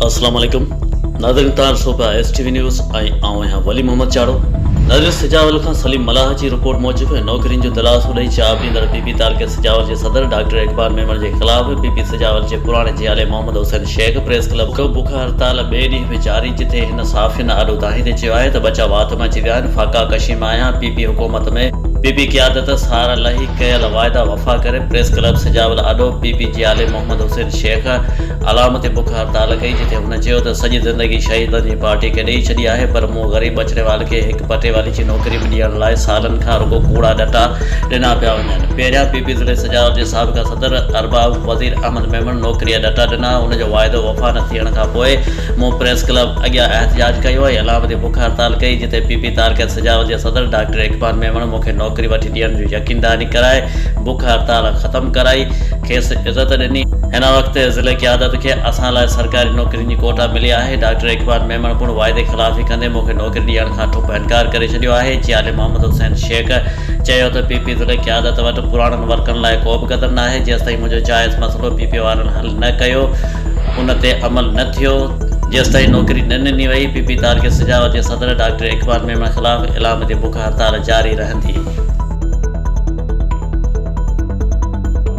السلام عليڪم ناظرين تان صوبه ايس ٽي وي نيوز ۽ آئون آهيان ولي محمد چاڙو نظر سجاول کان سليم ملاح جي رپورٽ موجب نوڪرين جو دلاسو ڏئي چاء پيندڙ پي پي تعلقي سجاول جي صدر ڊاڪٽر اقبال ميمڻ جي خلاف پي پي سجاول جي پراڻي جيالي محمد حسين شيخ پريس ڪلب بک هڙتال ٻئي ڏينهن به جاري جتي هن صحافين آڏو دانهيندي چيو آهي ته ٻچا وات مان اچي ويا آهن، فاقا ڪشي مان آهيان، پي پي حڪومت ۾ پي پي قيادت سهارا لهي ڪيل واعدا وفا ڪري، پريس ڪلب سجاول آڏو پي پي جي عالم محمد حسين شيخ علامتي بک هڙتال ڪئي جتي هن چيو ته سڄي زندگي شهيدن جي پارٽي کي ڏئي ڇڏي آهي پر مون غريب ٻچڙيوال کي هڪ پٽيوالي جي نوڪري به ڏيڻ لاء سالن کان رڳو ڪوڙا ڏٽا ڏنا پيا وڃن، پهريان پي پي ضلعي سجاول جي سابقه صدر ارباب وزير احمد ميمڻ نوڪري جا ڏٽا ڏنا، ان جو واعدو وفا نه ٿيڻ کان پوء مون پريس ڪلب اڳيان احتجاج ڪيو ۽ علامتي بک هڙتال ڪئي، جتي پي پي تاريخيت سجاول جي صدر ڊاڪٽر اقبال ميمڻ مون کي نوڪري وٺي ڏيڻ جون يقين دهاني ڪرائي بک هڙتال ختم ڪرائي کيس عزت ڏني. هن وقت ضلعي قيادت کي اسان لاء سرڪاري نوڪرين جي ڪوٽا ملي آهي، ڊاڪٽر اقبال ميمڻ پڻ واعدي خلافي ڪندي مون کي نوڪري ڏيڻ کان ٺپ انڪار ڪري ڇڏيو آهي، چيالي محمد حسين شيخ چيو ته پي پي ضلعي قيادت وٽ پراڻن ورڪرن لاء ڪو به قدم ناهي، جيستائين منهنجو جائز مسئلو پي پي وارن حل نه ڪيو. ان تي عمل نه ٿيو جيستائين نوڪري نه ڏني وئي پي پي تارڪي سجاوت جي صدر ڊاڪٽر اقبال ميمڻ خلاف علام جي بک هڙتال جاري رهندي.